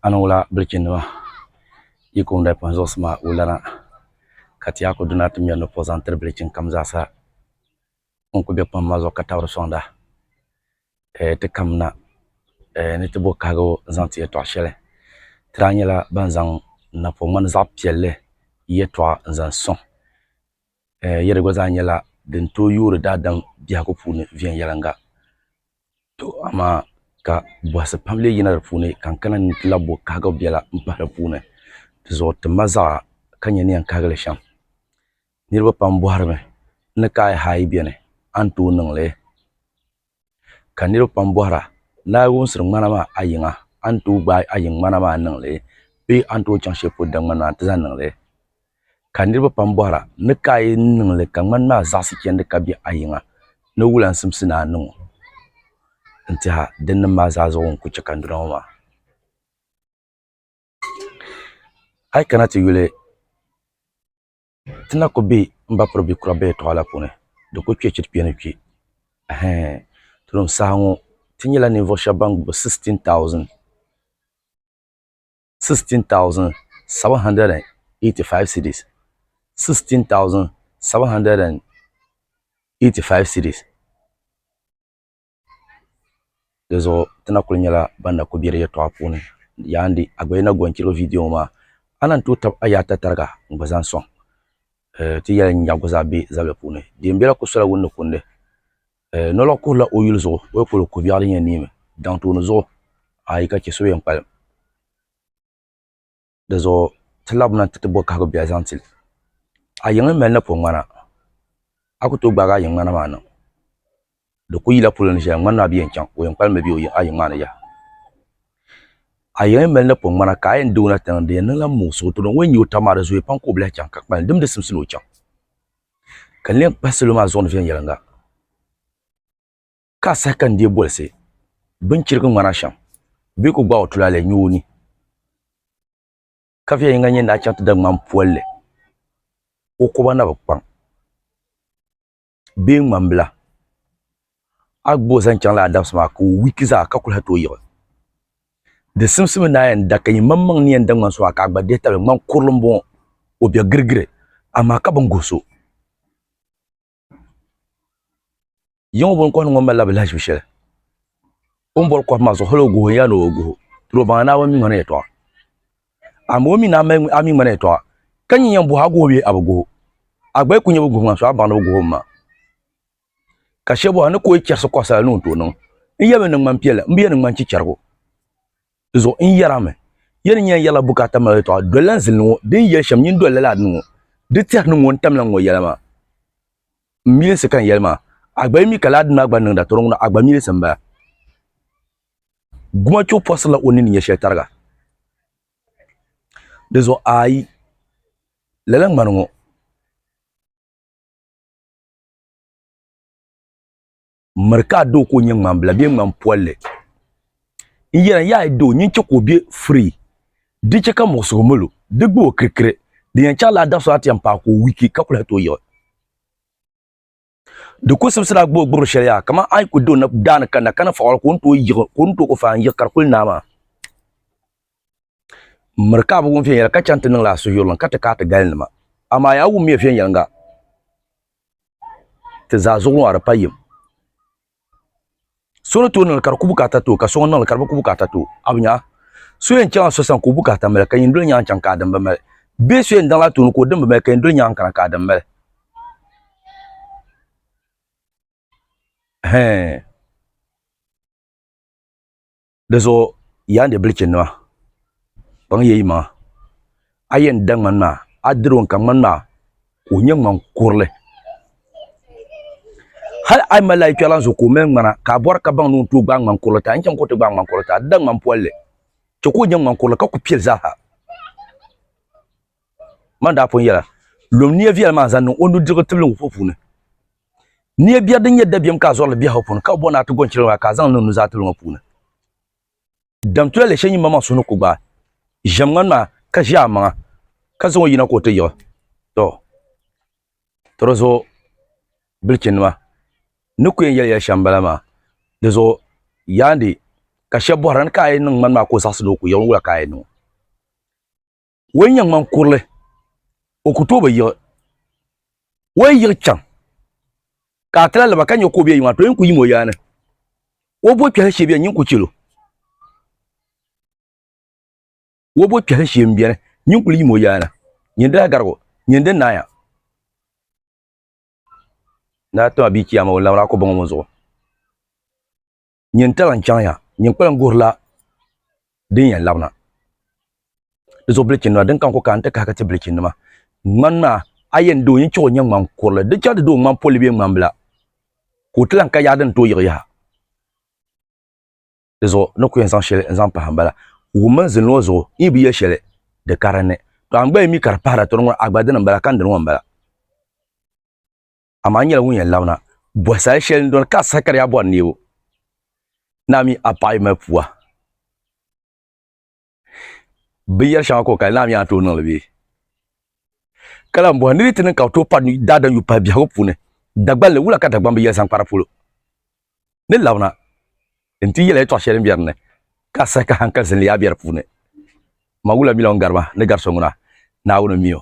a ni wula bilichini nima yi kum di pun zuɣusi maa wulana ka ti yaa ku duna ti mɛri ni puɣi zaŋ tiri bilichini kam zaa sa ŋun ku bɛ kpam maa zuɣu ka tabiri sɔŋda ti kam na ni ti bo kahigu n zaŋ ti yɛtɔɣa shɛli ti daa nyɛla ban zaŋ napɔŋ ŋmani zaɣi piɛlli yɛtɔɣa n zaŋ sɔŋ yɛ di gba zaa nyɛla din tooi yoori daadam biɛhigu puuni viɛnyɛliŋga To amaa ka bɔhisi pam lee yina di puuni ka n kana ni n ti lahi bo kahigibu biɛla m-pahi di puuni. Dizuɣu ti ma zaɣa ka nya ni yɛn kahigi li shɛm. Niriba pam bɔhiri mi ni ka a yi haai beni a ni tooi niŋ li? Ka niriba pam bɔhira ni a yi wumsiri ŋmana maa a yiŋa a ni tooi gbaai a yiŋ ŋmana maa niŋ li bee a ni tooi chaŋ shɛli polo daŋmani maa nti zaŋ niŋ li? ka niriba pam bɔhira, Ni ka a yi niŋ li ka ŋmani maa zaɣisi chandi ka be a yiŋa ni wulansimsi ni a niŋ o? N-teha, din niŋ maa zaa zuɣu n-ku chɛ ka n duna ŋɔ maa. A yi kana ti yuli, ti na ku be m ba piri bikura bɛ yɛtɔɣa la puuni, di ku kpe chɛ ti kpe ni kpe. Ɛhɛɛn! Tulim saha ŋɔ ti nyɛla ninvuɣ shɛba ban gbubi 16,000. 16785 cedis 16785 cedis di zuɣu ti na kuli nyɛla ban na kuli bɛ di yɛltɔɣa puuni yaa n di a gba yi na gɔni chɛro viidiyo ŋɔ maa a na ni tooi tabi a yaha ata tariga n gba zaŋ sɔŋ ti yɛli n nya gba zaa bɛ zabili puuni din bɛla ku sola wunni kundi Eh, nɔlɔg kuhila o yuli zuɣu, o yi kul ku biɛɣu din yɛn niimi daŋ tooni zuɣu, ayi ka chɛ so yɛn kpalim. Di zuɣu ti laɣim na nti ti bo kahigu biɛɣu zaŋ ti li. A yiŋa mali napɔŋ ŋmana, a ku tooi gbaagi a yiŋ ŋmana maa niŋ. Di ku yila polo ni shɛli ŋmanimi a bi yɛn chaŋ, o yɛn kpalim mi be a yiŋ maa ni yaha. A yiŋa yi mali napɔŋ ŋmana ka a yɛn deei o na tiŋa, di yɛn niŋla muɣisigu, tooni ŋun nyɛ o taba maa di zooya pam ka o bi lahi chaŋ ka kpalim, dimdi simsi ni o chaŋ. ka n leen kpahi salo maa zuɣu ni viɛnyɛliŋga, ka a saha ka n deei bolisi binchirigi ŋmana shɛm bee ka o gbaai o tulaalɛ nyo o ni, ka viɛnyɛliŋga nyɛ ni daa chaŋ ti da ŋmani polli, o koba na bi kpaŋ bee ŋmambila. a gba o zaŋ chaŋ laa dabisi maa ka o wiki zaa ka kuli ha tooi yiɣi. Di simsimi ni a yɛn da ka yi maŋmaŋ ni yɛn da ŋmani suha ka a gba dihi tabili. Ŋmani kurili m-bɔŋɔ, o be girigiri, amaa ka bini guhi so. Yiŋa bini kɔhiri ŋɔ malila bi lahiʒibu shɛli o ni boli kɔhimma zuɣu hali o guhi o n-yaa ni o guhi o, diri o baŋa Naawuni mi ŋmanila yɛtɔɣa. Amaa o mi ni a mi ŋmanila yɛtɔɣa, ka nyin yɛn bɔhi a guhi o bee a bi guhi o, a gba yi kuli nyɛ bi guhi ŋmani suha baŋ ni bi guhi o mi maa. ka shɛba a ni kuli chɛrisi kɔɣisa la ni o tooi niŋ n yɛli mi ni ŋmani piɛla m bi yɛn ni ŋmani chichɛrigu di zuɣu n yɛra mi ya ni nyɛla yɛla bukaata mali yɛltɔɣa doli la n zilini ŋɔ din yɛli shɛm nyin doli lala adini ŋɔ di tɛri ni ŋɔ n tamila n ŋɔ yɛla maa m milinsi ka n yɛli maa a gba yi mi ka lala adini maa gba niŋda tɔrɔŋɔ na a gba milinsi m bala Gumachuɣu pɔsirila o nini nyɛ shɛli tariga di zuɣu ayi lala ŋmani ŋɔ miri ka a doo ka o nyɛ ŋmanbila bee ŋman polli n yɛra n yaai doo nyin chɛ ka o be firii di chɛ ka muɣisigu mil o di gbi o kirikiri di yɛn chaŋla a dabisili a ti yɛn paai ka o wiki ka kuli hati o yiɣi di ku sibisira a gbubi gbibiri shɛli yaa kamani a yi ku do daani kanna ka ni faɣiri ka o ni tooi ku fai n-yiɣi ka di kuli naai maa M miri ka a bi wum viɛnyɛla ka chaŋ ti niŋla a suhuyurlim ka ti ka a ti galinima. Amaa yaa wummiya viɛnyɛliŋga, ti zaa zuɣu ŋɔ di pa yim. So ni tooi niŋli ka di ku bukaata ti o, ka so ŋun niŋli ka di bi ku bukaata ti o, a bi nya? So yɛn chaŋla so sani ka o bukaata mali, ka yin doli nyaŋ chaŋ ka a din bi mali? Bee so yɛn daŋla a tooni ka o din bi mali, ka yin doli nyaŋ kana ka a din mali? Hɛɛn! Di zuɣu yaa ni bilichi nima kpaŋ ya yimaŋa a yɛn da ŋmani maa a diri o n ka ŋmani maa ka o nyɛ ŋmani kurili hali a yi mali a yikpɛrila n zuɣu ka o mali ŋmana ka a bɔri ka baŋ ni o ni tooi gbaai ŋmani kurili ti a ni chaŋ ka o ti gbaai ŋmani kurili ti a di da ŋmani polli chɛ ka o nyɛ ŋmani kurili ka ku piɛli zaaha man daa pun yɛla lom niya viɛli maa zaŋ niŋ o nudirigu tibili ŋɔ puuni Nia biɛri din nyɛ dabiɛm ka a zɔrili biɛhigu puuni, ka bi bɔ ni a ti gɔnchirigu maa ka a zaŋ niŋ nuzaa tibili ŋɔ puuni. Dam tulali shɛli nyimba maa suhu ni ku gbaai ʒiɛmŋani maa ka ʒi a maŋa ka zaŋ o yina ka o ti yiɣi. Tɔ! Tɔ di zuɣu bilichinnima ni ku yɛn yɛli yɛli shɛm m-bala maa. Di zuɣu Yandi ka shɛba bɔhira ni ka a yi niŋ ŋmani maa ka o zaɣisi ni o ku yiɣi n-wula ka a yi niŋ o? o yi nyɛ ŋman kurili o ku tooi bi yiɣi o yi yiɣi chaŋ ka a ti lahi laba ka nyɛ ka o bɛ yi maa to yin ku yim o yaa ni o bo kpɛhili shee biɛni nyin ku chɛlo o bo kpɛhili shee n biɛni nyin kuli yim o yaa ni nyin daa garigi o nyin di naai a ni a ti ma bia chiyaama o ni labiri a ko baŋ o mi zuɣu nyin tala n chaŋya, nyin kpalim guhirila din yɛn labina di zuɣu bilichinima, din ka n ku ka n-ti kahigi ti bilichinima. Ŋmani maa, a yɛn di o yin chihi o nyɛ ŋman kurili, di chɛ a ti di o ŋman polli bee ŋman bila, ka o ti lan ka yaɣa din tooi yiɣi yaha. Di zuɣu ni ku yɛn zaŋ shɛli n-zaŋ pahi m-bala, wum mini zilin ŋɔ zuɣu, n yi bi yɛli shɛli, di karinni. Tɔ! A ni gba yi mi ka di pahira, tɔ di ŋuna a gba dini m-bala, ka n dini ŋɔ m-bala. amaa n nyɛla ŋun yɛn labina bɔhi sal shɛli n dɔni ka a saha ka di yaa bɔri neebu ni a mi a paɣa yi mali pua binyɛri shɛŋa ka o kali ni a mi yaa ni tooi niŋli bee ka lahi bɔhi ni di ti niŋ ka bi tooi pari daadam yupahi biɛhigu puuni Dagbanli wula ka Dagbamb yɛli zaŋ kpari polo ni labina n ti yɛla yɛltɔɣa shɛli n bɛ dinni ka a saha ka hankali zilli yaa bɛ di puuni ma wula mi la ŋun gari ma ni gari so ŋuna Naawuni n mi o